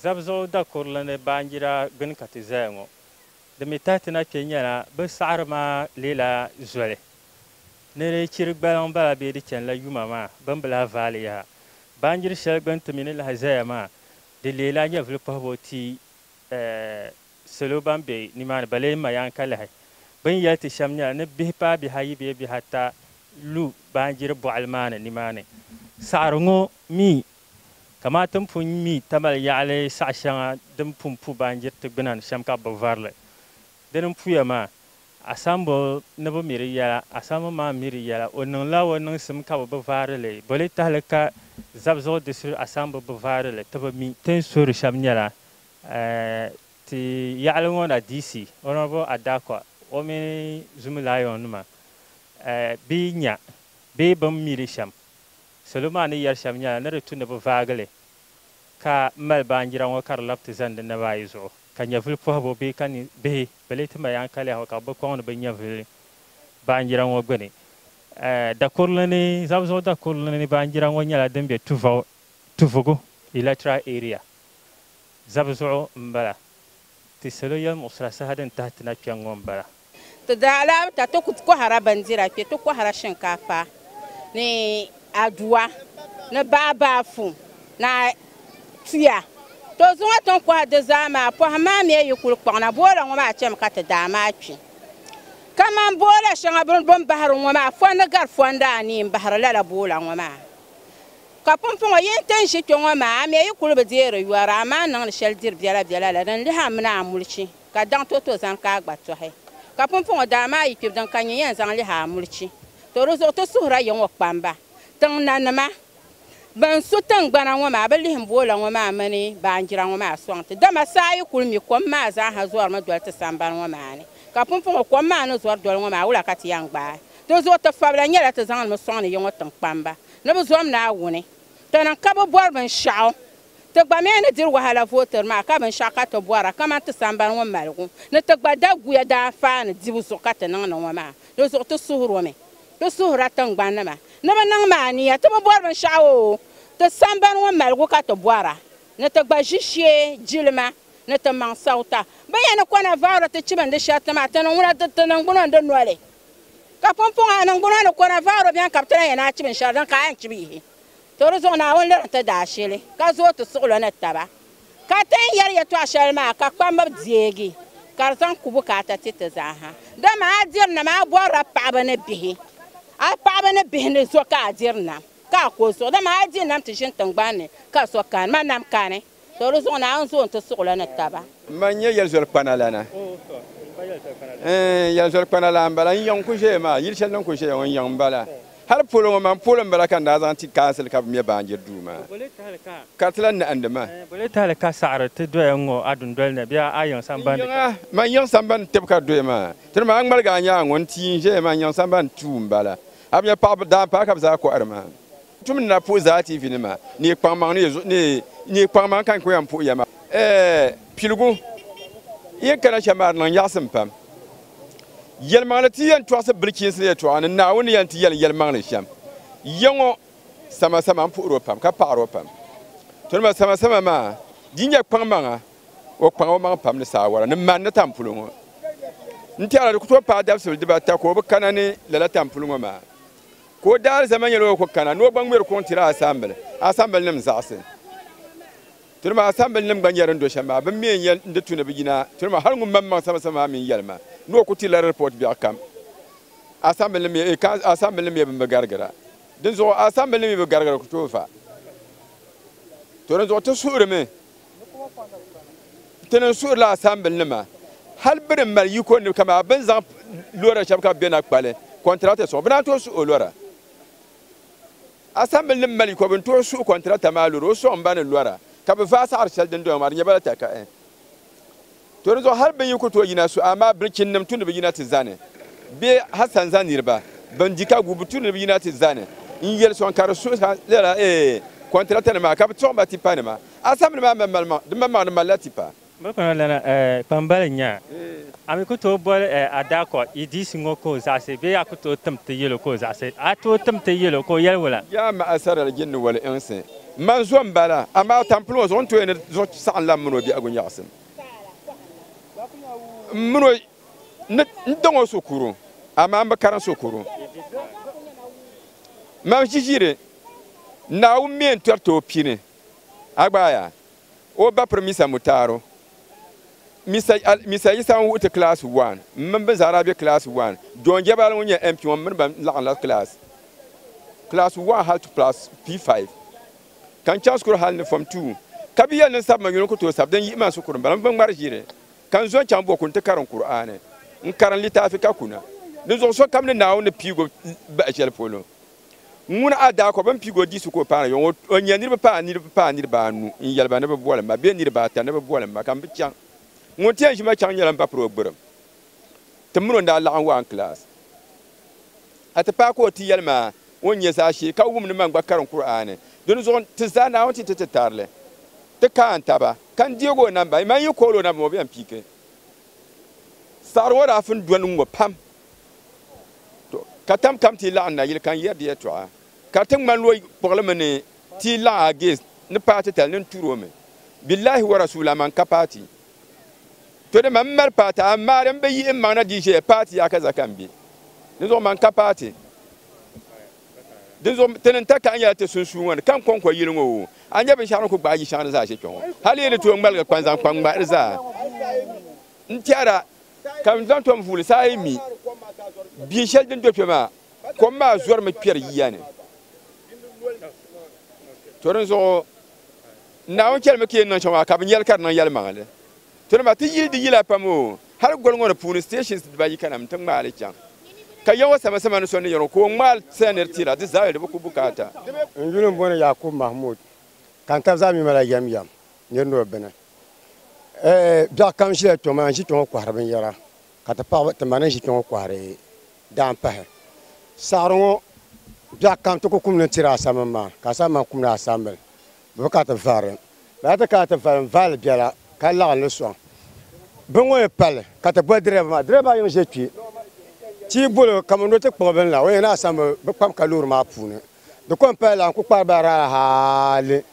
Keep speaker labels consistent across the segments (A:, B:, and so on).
A: Zabzuɣu dakurili ni baanjira gbini ka ti zaya ŋɔ. Di mi tahi ti na kpe nyɛla bɛ saɣiri maa leela zoli ni di chiri gbaliŋ bala bee di chanila yuma maa bini bi lahi vaali yaha. Baanjiri shɛli gbini ti mi ni lahi zaya maa di leela nyɛvili kpuɣibu ti salo ban be nimaani bala yi ma ya n-ka lahi. Bɛ ni yɛli ti shɛm nyɛla ni bihi paai bihi ayi bee bihi ata lu baanjiri bɔɣili maa ni nimaani. Saɣiri ŋɔ mi Kamaa ti ni pun mi tamali yaɣili saɣ shɛŋa din pun pu baanjiri ti gbuna ni shɛm ka bɛ bi vari li. Di ni puya maa, a sambo ni bi mi di yɛla, a sambo maa mi di yɛla. O niŋla o niŋsim ka bɛ bi vaari li. Boli tahili ka Zabzuɣu Disiri a sambo bi vaari li, ti bi mi? Ti ni suhiri shɛm nyɛla, ti yaɣili ŋɔ na DC, Honourable Adakwa, o mini Zumi Lion nima bɛ yi nya bee bɛ ni mi di shɛm, Salo maa ni yɛri shɛm nyɛla ni di tu ni bɛ vaagi li ka mali baanjira ŋɔ ka di labi ti zani di naba ayi zuɣu ka nyɛvili pɔhibu bee ka ni bihi bɛ lee ti mali yankaliya ŋɔ ka bɛ bi kɔŋ ni bɛ nyɛvili baanjira ŋɔ gbini. Dakurili ni, Zabuzuɣu dakurili ni baanjira ŋɔ nyɛla din be Tuvau, Tuvugu Electoral Area, Zabuzuɣu m-bala. Ti salo yɛlimuɣisira saha din tahi ti na kpɛŋ ŋɔ m-bala. Ti daa alahibu
B: ka ti ku kɔhira bindira kpe. Ti kɔhira shinkaafa ni aduwa ni baabaafu ni tuya. Tɔ zuŋɔ ti ni kɔhi di zaa maa, pɔhim maa mi yi kul kpaŋ na, boola ŋɔ maa chami ka ti daa maa kpi. Kaman boola shɛŋa bɛ ni bahiri ŋɔ maa, fɔndi gari fɔndi anii m-bahiri lala boola ŋɔ maa. Ka pumpɔŋɔ yi ni ti ni ʒi kpe ŋɔ maa, a mi yi kul bi deeri yɔri, amaa n niŋdi shɛli diri biɛlabiɛla la din lihi a mini a mulichi. ka daŋ ti o ti o zani ka a gba tɔhi. Ka pumpɔŋɔ daa maa yi kpibdi n ka nya yɛn zaŋ lihi a mulichi. To di zuɣu ti suhir a yiŋɔ kpamba, tiŋ nanima. Bɛn su tiŋgbana ŋɔ maa bi lihi m boola ŋɔ maa mini baanjira ŋɔ maa sɔŋ ti. Dama saa yi kul mi kom maa zaaha zɔrimi doli ti sambani ŋɔ maa ni. Ka pumpɔŋɔ kom maa ni zɔri doli ŋɔ maa wula ka ti yɛn gbaai? Di zuɣu ti fabila nyɛla ti zaŋdi mi sɔŋdi yiŋɔ tiŋ kpamba ni bɛ zom Naawuni. Tana n-ka bɛ bɔri binshɛɣu. Ti gba mi ni diri wahala vootir maa ka binshɛɣu ka ti bɔra kaman ti sambani ŋɔ maligu ni ti gba daguya daanfaani dibu zuɣu ka ti niŋdi ŋɔ maa, di zuɣu ti suhir o mi. Ti suhirila tiŋgbannima ni bɛ niŋm a niya ti bi bɔri binshɛɣu o ti sambani ŋɔ maligu ka ti bɔra ni ti gba ʒi shee jilima ni ti maŋ sawta. Bɛ ya ni kɔna vaori ti chibindi shɛriti maa ti ni ŋuna di ti niŋgbuno n-di noli ka pumpɔŋɔ a niŋgbuno ni kɔna vaori beni ka bɛ ti lan ya ni a chibin shɛli din ka a yɛn chibi yihi. To di zuɣu Naawuni liri ti daashili, ka zooi ti suɣulo ni taba. Ka ti ni yɛli yɛtɔɣ shɛli maa ka kpamba deegi, ka di zaŋ ku bukaata ti ti zaaha. Dama a diri nam, a bɔri a paɣiba ni bihi, a paɣiba ni bihi ni zo ka a diri nam, ka a ko zuɣu. Dama a di nam ti ʒini tiŋgbani ni, ka zo kani, ma nam kani. So di zuɣu Naawuni zooi nti suɣila ni taba. M ma n-nyɛ
C: yɛlizɔlikpanalana. Ɛɛn, yɛlizɔlikpanalana m-bala. N yiŋ n-ku ʒeya maa, yili shɛli ni n ku ʒeya ŋɔ, n yiŋ m-bala. Hal polo ŋɔ man polo m-bala ka n daa zaŋ ti kaansil ka bɛ me baanjiri duu maa. Ka ti lahi nahindi ma. Bɔ lee tahili ka saɣiri
A: ti doya ŋ-ŋɔ a dundoli ni bee a yiŋ sambandi ka? N yiŋa, man yiŋ sambandi
C: tib ka doya maa. Tiri ma a ŋmaligi a nyaaŋa ŋɔ. N tii n-ʒeya maa, n yiŋ sambandi tuu m-bala. A bi nya paɣiba, daanpaɣa ka bɛ zaa kɔhiri maa. Tum ni na puhi zaa TV nima ni yi kpaŋmaŋ ni yi zuɣu ni ni yi kpaŋmaŋ ka n ku yan puhi ya maa. Ɛɛh piligu yin kana shɛm maa di niŋ nyaɣisim pam. Yɛlimaŋli ti yan tɔɣisi bilichiinsi ni yɛtɔɣa ni Naawuni ni yan ti yɛli yɛlimaŋli shɛm ya ŋɔ samasama n puhiri o pam ka paɣiri o pam. Tonima samasama maa di nyɛ kpaŋmaŋa o kpaŋ o maŋ pam ni saawara ni man ni tampulo ŋɔ. N tɛhira di ku tooi paai dabisili dibata ka o bi kana ni lala tampulo ŋɔ maa. Ka o daalizama nyɛla o ku kana ni o gba ŋmɛri kuŋ tiri asambili, asambilinim zaɣisi. Tiri maa asambilinim gba nyɛ din do shɛm maa, bɛ mi n-yɛn di tu ni bɛ yina, tiri maa hal ŋun maŋ maŋ samasama maa mi n-yɛli ma ni o ku tirila di ripɔt biɛɣu kam. Asambilinim nyɛ bɛn bi garigira. Dinzuɣu asambilinim yi bi garigira ku tooi fa, tɔ dinzuɣu ti suhirimi. ti niŋ suhurila asambili nima hali bini mali yiko ni kama bin zaŋ lora shɛba ka bɛ na kpali kɔntirata sɔŋ bɛ naan tooi suhi o lora asambili nim mali yiko bin tooi suhi kɔntirata maa lora o sɔŋ ba ni lora ka bɛ vaai saɣiri shɛli din doya maa di nyɛ ba la takahi To di zuɣu hal bɛ yi ku tooi yina so, amaa bilichinnim tu ni bɛ yina ti zani, bee hal sanza niriba bɛn di ka gu bɛ tu ni bɛ yina ti zani. N yɛli sɔŋ ka di suhi ha lala, Eei, kɔntratanim maa ka bɛ tɔɣi ba tipanima. Asɛmbili maa mali maŋ, di mali maŋ di malila tipa. Bɛ kpaŋ lana
A: kpambali n-nya, A mi ku tooi boli a daa ka yi diisi ŋɔ ka o zaɣisi, bee a ku tooi tim ti yɛl o ka o zaɣisi? A tooi tim
C: ti
A: yɛl o ka o
C: yɛli
A: wula? Yaa
C: maha
A: sarali jinni wali iŋsi, M ma
C: n-zo m-bala, amaa tampiliŋɔ zuɣu n-tooi ni zuɣu saɣinla m mini o biɛhigu nyaɣisim. M mini o ni daŋ o sukuru, amaa m bi karim sukuru. Mam ʒiʒiri, Naawuni mi yɛn tɔri ti o pini, Agbaaya, o ba Pirimisa Mutaaru, Misa Yisa ŋun wuhi ti kilaasi waan, m mini bɛ zaa daa be kilaasi waan. John Jebal ŋun nyɛ MP ŋɔ m mini ba laɣimla kilaasi kilaasi waan hali ti kilaasi P5 ka n chaŋ shikuru hali ni fɔm tuu. Ka bɛ yɛli ni n sabi ma yuli n ku tooi sabi, din yihi ma n shikuru m-bala. M bi ŋmari ʒiri ka n zo n-chaŋ Boko nti karim Kur'aani. N karim litaafi ka kuna. Dinzuɣu sokam ni Naawuni ni piigi o bahi shɛli polo. Ŋuna a daa kɔb bɛn piig o di su ka o paana yɔŋ o o nya niriba paai niriba paai niriba anu n-yɛli ba ni bɛ boli ma bee niriba ata ni bɛ boli ma ka m bi chaŋ. Ŋun ti yɛn ʒi ma chaŋ nyɛla m ba piri o gbirim. Tim mini o ni daa laɣim waai n-kilaas a ti paai ka o ti yɛli ma o ni nya zaashee ka wum ni man gba karim Kur'aani. Dinzuɣu ti zaa Naawuni ti ti ti tarili ti kaai n-taba ka n deeg o namba. Yi man yi kool o namba maa o bi yɛn piigi. Saɣiri ŋɔ daa fin dɔni ŋ-ŋɔ pam. Tɔ! Ka tam kam ti laɣim nayili ka n yɛri di yɛtɔɣa, ka di ti ŋmani lo kpuɣili mi ni ti yi laɣim a gees ni paai titali ni n tuur o mi. Billahi wa Rasuul aman ka paai ti. Tɔ! Dama m mali paai ti, amaa di m bi yihi m maŋ na di ʒiɛya paai ti yaha ka zaka m-be di zuɣu man ka paai ti. Dinzuɣu ti ni ta kahi nyɛla ti sunsuun ŋɔ ni ka n-kɔŋko yili ŋɔ o. A nya binshɛɣu ni ku gbaai yi shɛŋa ni zaa ʒe kpe ŋɔ. Hali yi ni tooi ŋmaligi kpa n-zaŋ kpa m-ŋmahiri zaa, n-tɛhira ka n zaŋ tom vuuli saa yi mi bia shɛli din do kpe maa, kom maa zɔrimi kpɛri yiya ni. To dinzuɣu Naawuni chɛlimi ka yi ni niŋ shɛm maa, ka bi nyɛli ka di niŋ yɛlimaŋli. Ti ni ma ti yili di yila pam o, hal goli ŋɔ ni puuni stations dibaayi ka nam ti ŋmaai li chaŋ. Ka ya ŋɔ sama sama ni so ni yɛn o ka o ŋmaai saya nir ti la di zaa di bi ku bukaata. N yuli m-bɔni
D: Yakub Mahmood ka n tabi zaa mi ma la yɛm yɛm nir ni o bini. Ɛɛh biɛɣ kam ʒila kpɛŋɔ maa n-ʒi kpɛŋɔ kɔhiri binyɛra ka ti paɣiba ti ma ni ʒi kpɛŋɔ kɔhiri daam pahi. Saɣiri ŋɔ biɛɣ kam ti ku kum ni n-tiri a samim maa ka a sam ma n-kum ni a sambil Bɛ bi ka ti vari li. Bɛ daa ti kana ti vari m-vaali biɛla ka laɣim li sɔŋ. Bɛ ŋɔ ni pali li ka ti boli dirɛva maa. Dirɛva maa yiŋ ʒe kpe ti yi bol o kaman ni o ti kpuɣi bini la, o yɛn daa san mi bɛ kpabi ka loori maa puuni. Di kɔŋ paya lana n-kul kpaari ba raara hali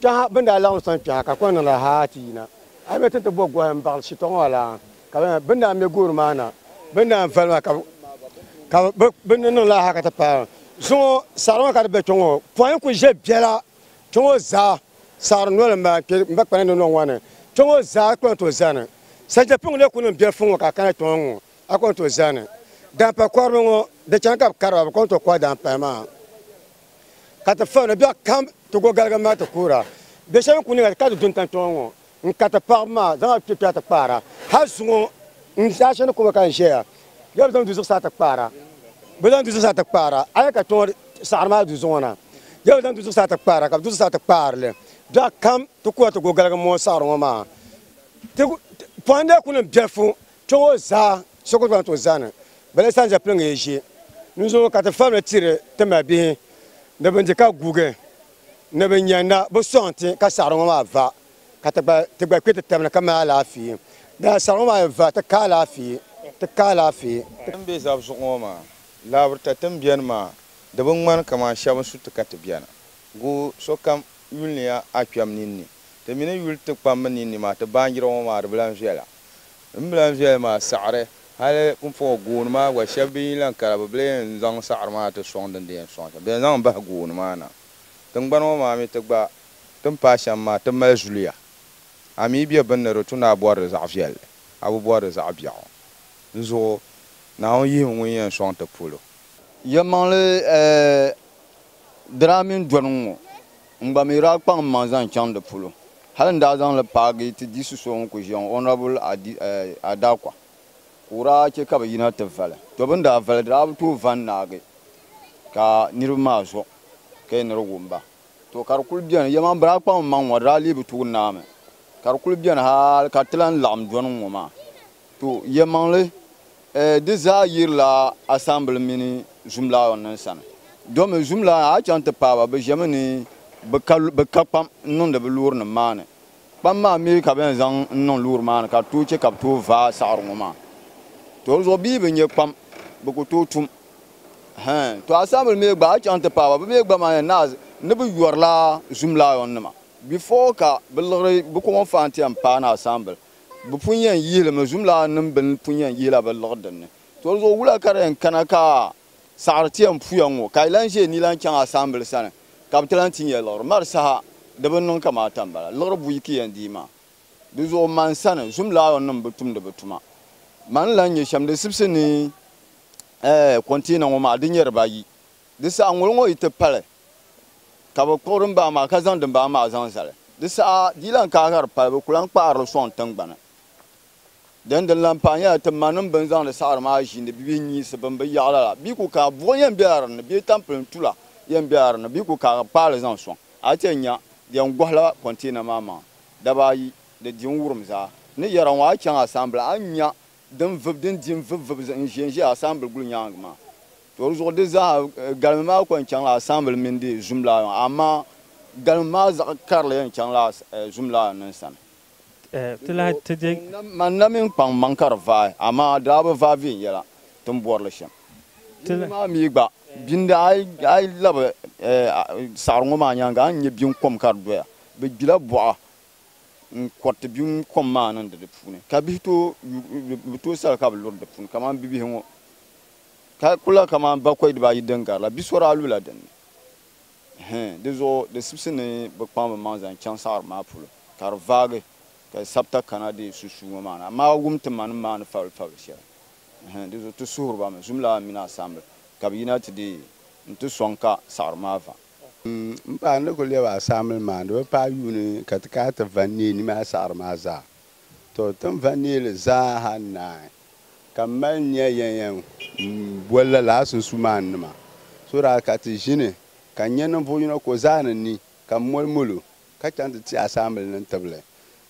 D: kpɛha bɛ ni daa laɣim sɔŋ kpɛha ka di kɔŋ niŋda haa ti yina. A yi be ti ni ti bo gɔhi m-baɣili shitɔɣu ŋɔ la, ka bɛ ni daa me gooni maa na, bɛ ni daa vari maa ka bɛ ni niŋ lala haa ka ti paai zuŋɔ saɣiri ŋɔ ka di be kpe ŋɔ pɔi n-kul ʒe biɛla Kpe ŋɔ zaa saɣiri noli m-ba n-kpe m ba kpana ni nɔŋ ŋɔ ni. Kpe ŋɔ zaa a kɔŋ ti o zani. Sante piŋ lee kuli niŋ biɛri fuŋ ŋɔ ka a kana kpe ŋɔ ŋ-ŋɔ a kɔŋ ti o zani. Daampa kɔriba ŋɔ di chani ka bɛ kari ba bɛ kɔŋ ti o kɔri daampaya maa ka ti fahim ni biɛɣu kam ti go galigim maa ti kuura. Biɛshɛba ni kuli niŋ ka ti du n-tam kpe ŋɔ ŋɔ N ka ti paɣibu maa, zaŋ a kpekpɛɣu ti kpaara. Hal zuŋɔ n daa chani kɔba ka n ʒɛya. Yɛli bɛ zaŋ du zuɣusaa ti kpaara. Bɛ zaŋ du zuɣusaa ti kpaara. A yɛli ka kpiɔŋɔ saɣiri maa du zuŋɔ na. Yɛli bɛ zaŋ du zuɣusaa ti kpaara, ka bɛ du zuɣusaa ti kpaari li. Dɔɣi kam ti kuhi a ti go galigi mɔɔ saɣiri ŋɔ maa. Ti pɔhindi a ku niŋ biɛlifu kpiɔŋɔ zaa, so ku zaŋ ti o zani. Bala yi sanza piliŋgi yi ʒi. N zuŋɔ ka ti falim tiri ti malibihi ni bɛ ni di ka guugi. Ni bi nya na bi sɔŋ ti ka saɣiri ŋɔ maa va, ka ti gba ti gba kpe ti tabini ka mali alaafee. Dala saɣiri ŋɔ maa yi va, ti ka alaafee, ti ka alaafee.
E: Ti ni be zab zuɣu ŋɔ maa, laabirita ti ni beni maa, di bi ŋmani kaman shɛba ni su ti ka ti beni. Guui sokam yuliniya a kpɛm ninni. Ti mi ni yuli ti kpambi ninni maa, ti baanjira ŋɔ maa di bi lan viɛla. M bi lan zɔya maa saɣiri, hali m puɣ gooni maa gba shɛb bi yi lan kara, bɛ bi lee ni zaŋ saɣiri maa ti sɔŋ din di yɛn sɔŋ shɛm. Bɛ ni zaŋ bahi gooni maa na. Tiŋgbani ŋɔ maa mi ti gba, ti ni paai shɛm maa, ti mali zuliya. A mi yi be bini ni di tu ni a bɔri di zaɣ viɛlli, a bi bɔri di zaɣ biɛɣu. Di zuɣu Naawuni yihibu ŋun yɛn sɔŋ ti polo. Yɛlimaŋli,
F: Dira mini dɔni ŋɔ. N gba mi daa kpaŋ m maŋ zaŋ chaŋ di polo. Hali n daa zaŋ li paagi ti diɣisi so ŋun kuli ʒiya ŋɔ, Honourable Adakwa, ka o daa che ka bɛ yina ti vali. To bɛ ni daa vali di daa bi tooi va n-naagi ka niriba maa zo ka yi ni di wum ba. To ka di kuli beni, yɛma bɛ daa kpaŋ m maŋ ŋɔ di daa lee bi tooi naai mi. Ka di kuli beni hali ka ti lahi laɣim dɔni ŋ-ŋɔ maa. To, yɛlimaŋli, ɛɛ, di zaa yirila asambili mini zumlaayɔn nim sani. Domi zumlaayɔn a chaŋ ti paai ba, bɛ ʒemi ni bɛ ka bɛ ka kpam n-niŋdi bɛ loori nim maa ni. Kpam maa mi ka bɛ yɛn zaŋ n-niŋ loori maa ni ka di tooi che ka bɛ tooi vaai saɣiri ŋɔ maa. To di zuɣu bɛ yi bi nyɛ kpam bɛ ku tooi tum. Hɛɛn. To asambili mi gba a chaŋ ti paai ba, bɛ mi gba maa yɛn naai ni bɛ yɔrila zumlaayɔn nima before ka bɛ liɣiri bɛ kɔŋɔnfaan ti yɛn paai ni asambili. Bɛ pun yɛn yihi li mi, zumlaaninnim bɛn pun yɛn yihila bɛ liɣi din ni. Tolizuɣu wula ka di yɛn kana ka a saɣiri ti yɛn puya ŋ-ŋɔ ka yi lan ʒe ni lan chaŋ a saambil sani ka bɛ ti lan ti nya liɣiri? Mari saha, di bi niŋ kaman a ta m-bala. Liɣiri buyi ka yɛn dii maa? Di zuɣu man sani, zumlaayɔnnim bi tumdi bɛ tuma. Man n-lan nya shɛm din sibisi ni, ɛɛ, kɔnteena ŋɔ maa, di nyɛri ba ayi. Di saha ŋol ŋɔ yi ti pali, ka bɛ kpuɣi dimbaa maa ka zaŋ dimbaa maa zaŋ zali. Di saha di lan ka hiri pali, bɛ ku lan kpaari li sɔŋ tiŋgbani. Dini din lan pahi nyɛla ti manim bɛ ni zaŋdi saɣiri maa ʒiindi bɛ bihi nyiisi bɛ ni bi yaɣila la. Bɛ ku ka buɣi yɛn bela di ni, bee tampilim tula yɛn bela di ni, bɛ ku ka hiri kpaai li zaŋ sɔŋ. A yi chɛ nya, di yɛn gɔhila kɔnteena maa maŋa daba ayi, di di n-wurim zaa. N ni yɛra ŋɔ, a yi chaŋ a sambila, a ni nya din vib, din di n-vib vib n-ʒen ʒe asaanbil guli nyaaŋa maa. Tɔ di zuɣu di zaa galimi maa kɔŋ chaŋla asaanbil mini di zumlaa maa, amaa galimi maa zaɣ karili yɛn chaŋla zumlaa nim sani. Ti lahi
A: ti je. Man na mi n-kpaŋ
F: maŋ ka di vaai, amaa di daa bi vaai viɛnyɛla ti ni bɔri li shɛm. Di ni maa mi gba, bini di a yi labi saɣiri ŋɔ maa nyaaŋa a ni nya bini kom ka di doya. Bɛ gbila bɔɣa n kɔriti bim kom maa niŋdi di puuni ka bihi bi tooi sal ka bi luri di puuni kamani bibihi ŋɔ ka kula kamani bakɔi dibaayi din gari la bi sɔri a lula din ni hɛn di zuɣu di sibisi ni bi kpaŋ bi maŋ zaŋ chaŋ saɣiri maa polo ka di vaagi ka sabita kana di susuu ŋɔ maa ni amaa wum ti manim maa ni fabili fabili shɛli hɛn di zuɣu ti suhiri ba mi zumlana mini asaamble ka bi yina ti deei n ti sɔŋ ka saɣiri maa vaŋ. M paɣa n
G: ni kuli lɛb a saamili maa, di bi paai yuuni ka ti kai ti va n-neei nima a saɣiri maa zaa. Tɔ! Ti ni va n-neei li zaaha n-naai, ka m mali nya yɛn yɛn boli lala a sunsuumaan nima, so daa ka ti ʒini ka n nya ninvuɣ yino ka o zaa ni ni, ka m moli mol o, ka chaŋ ti ti a saamili ni n tibili.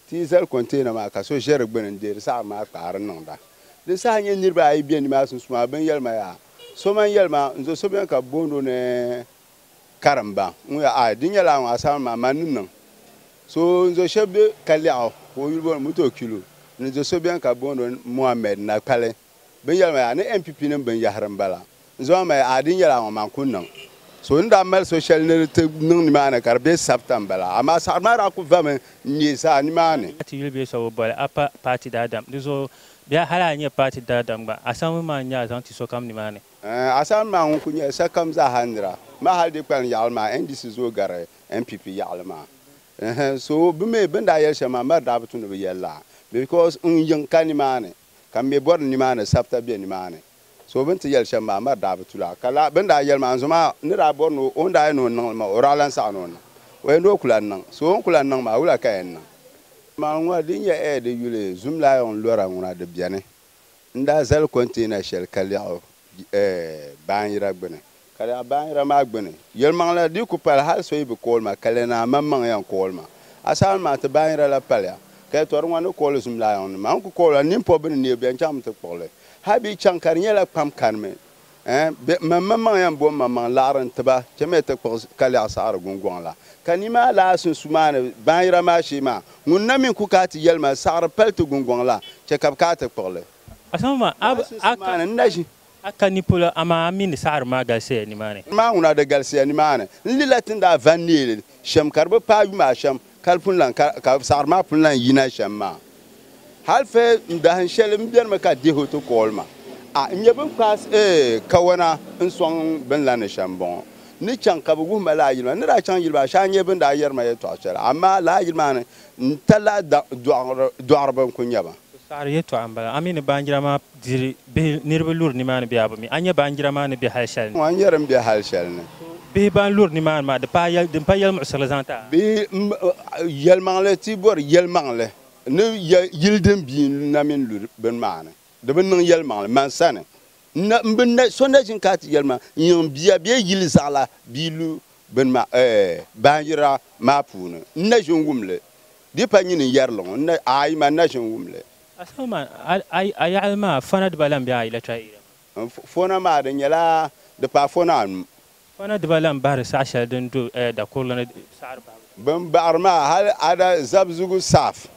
G: Ti yi zali container maa ka so ʒe di gbuni n deeri saɣim maa kpaari niŋda. Di saha n-nyɛ niriba ayi be nimaa sunsuuni maa bɛ ni yɛli ma yaa so man yɛli ma n zo so beni ka bɛ booni o ni Karimba ŋun ya aai di nyɛla a ŋɔ asaawuni maa man ni niŋ so n zo shɛb be ka lɛɣu ka o yuli booni Mutokilu ni zo so beni ka bɛ booni o ni Mohammed Nakpali. bini yɛli ma yaa ni NPP nim bin yahiri n bala n zaŋ ma yaa a din yɛli a ŋɔ maa n ku niŋ so ni daa mali so shɛli ni di ti niŋ ni maa ni ka di bɛ sabita n bala amaa saɣiri maa daa ku vami n nyɛ zaa ni maa ni. Paati yuli bɛ so bi boli
A: a pa paati daadam di zuɣu bee hali a nyɛ paati daadam gba asaawuni maa n nyɛ a zaŋ ti sokam ni maa ni. Ɛɛn asaawuni maa ŋun
G: ku nyɛla sakam zaaha nira maa hali di kpalim yaɣili maa NDC zooi gari NPP yaɣili maa ɛɛn so bi mi bin daa yɛli shɛli maa mari daa bi tu ni bi yɛli la because n yiŋ ka ni maa ni. ka m mi bɔri nimaani sabita be nimaani. So bɛ ni ti yɛli shɛm maa, Mari daa bi tu la. Ka lala bɛ ni daa yɛli maa, Nzoma ni daa bɔri ni o ni daa yɛn ni o niŋ li maa, o daa lan saɣi ni o niŋ. O yɛn ni o ku lan niŋ. So o ni ku lan niŋ maa, wula ka yɛn niŋ? Amaa ŋuna din nyɛ Ɛɛ di yuli, zumlaayɔŋ lɔra ŋuna di beni. N daa zali kɔnteena shɛli ka lɛɣ o, baanjira gbini. Ka lala baanjira maa gbini yelimaŋlila dii ku pali hali so yi bi kooli ma, ka lɛna a maŋmaŋ yɛn kooli ma. Asaawuni maa ti baanjira la paliya, ka yi tɔri ŋɔ ni kooli zumlaayɔŋ ni maa. N ku kooli la ninpɔbi bɛ ni neei bɛn chaŋ mi ti kpuɣi li. Hali bɛ yi chaŋ ka di nyɛla kpam kanimi, bɛ mini maŋmaŋ yɛn bo maŋmaŋ laɣiri n-ti ba chɛmiya ti kpuɣi kalɛɣu saɣiri gungɔŋ la. Ka ni maa lahi sunsumaani baanjira maa shee maa, ŋuni na mi n-ku kaai ti yelima saɣiri pali ti gungɔŋ la, chɛ ka bɛ kaai ti kpuɣi li.
A: A ka
G: ni polo,
A: amaa a mi ni saɣiri maa galisiya nimaani. Amaa ŋuna di galisiya
G: nimaani. N lila ti ni daa va n neeli shɛm ka di bi paai yuma ashɛm ka di pun lan ka, ka saɣiri maa pun lan yina shɛm maa. Hal fɛ m dahin shɛli m benimi ka Deho ti kooli ma. A, n nya bɛ ni kpaai eeh kawana n-sɔŋ bɛ ni lan ni shɛm m-bɔŋɔ. N ni chaŋ ka bɛ wuhi ma lala yili maa. N ni daa chaŋ yili maa shee a nya bɛ ni daa yɛri ma yɛtɔɣ shɛli, amaa lala yili maa ni n-talila dɔɣiriba n-kul nya ba. Bɛ saɣiri yɛtɔɣa m-bala.
A: A mi ni baanjira maa diri bihi niriba luri nimaani bee a bi mi? A nya baanjira maa ni be hal shɛli ni? Ŋɔ n-nyɛ din be hal
G: shɛli ni. Bihi ban luri
A: nimaani maa, di paai yɛl, di m-paai yɛlimuɣisirili zaŋ ti a? Bee m,
G: yɛlimaŋli, ti bɔri yɛlimaŋli ni ya yili din bia na mini luri bini maa ni. Di bi niŋ yɛlimaŋli man sani. N na, m bi na, so na ʒini ka a ti yɛlimaŋli n-niŋ m bia bee yili zaɣila bia lu bini maa, ɛɛ, baanjira maa puuni. N na ʒini wum li Di pa nyini yɛrili ŋɔ, n na, aai ma n na ʒin wum li. Asama man, a,
A: a, a yaɣili maa, fɔna diba lan be a electoral area maa. N, fɔna maa,
G: di nyɛla, di paai fɔna anu. Fɔna diba
A: lan bahiri saɣ shɛli din do eh, dakurili ni saɣiri bahibu shee. Bɛ ni baɣiri maa,
G: hal Ada Zabzugu South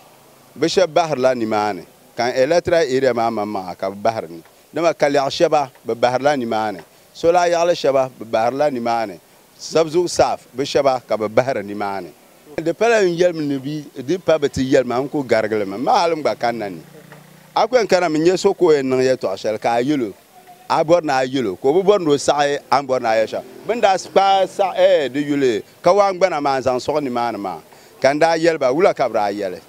G: bɛ shɛba bahirila nimaani, ka n electoral area maa maŋmaŋa ka bɛ bahiri ni. Dama Kalɛɣu shɛba, bɛ bahirila nimaani. Sola yaɣili shɛba, bɛ bahirila nimaani. Sabzuɣu saaf bi shɛba ka bɛ bahiri nimaani. Di pala n yɛli mi ni bɛ di pa bɛ ti yɛli ma n ku garigili mi. M ma hali m-gba kanna ni a ku yɛn kana mi n-nyɛ so ka o yɛn niŋ yɛtɔɣ shɛli ka a yɛl o, a bɔri ni a yɛl o, ka o bi bɔri ni o saɣi a ni bɔri ni a yɛl shɛm. Bɛ ni daa kpaai saɣi di yuli kawaangbana maa n-zaŋ sɔɣi nimaani maa ka n daa yɛli ba, Wula ka bɛ daa yɛli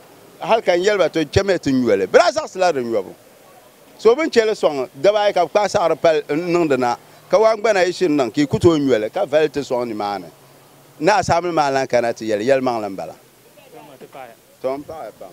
G: hal ka n yɛli ba to chɛmiya ti nyo li? Bɛ daa zaɣisila di nyɔbu. So bini che li sɔŋ daba ayi ka bɛ kpaai saɣiri pali n-niŋ di na, ka waan gbana yi shiri niŋ ka yi ku tooi nyo li ka vali ti sɔŋ nimaani, Naa Saamili maa lan kana ti yɛli, Yɛlimaŋli m-bala. Tom paɣiya pam.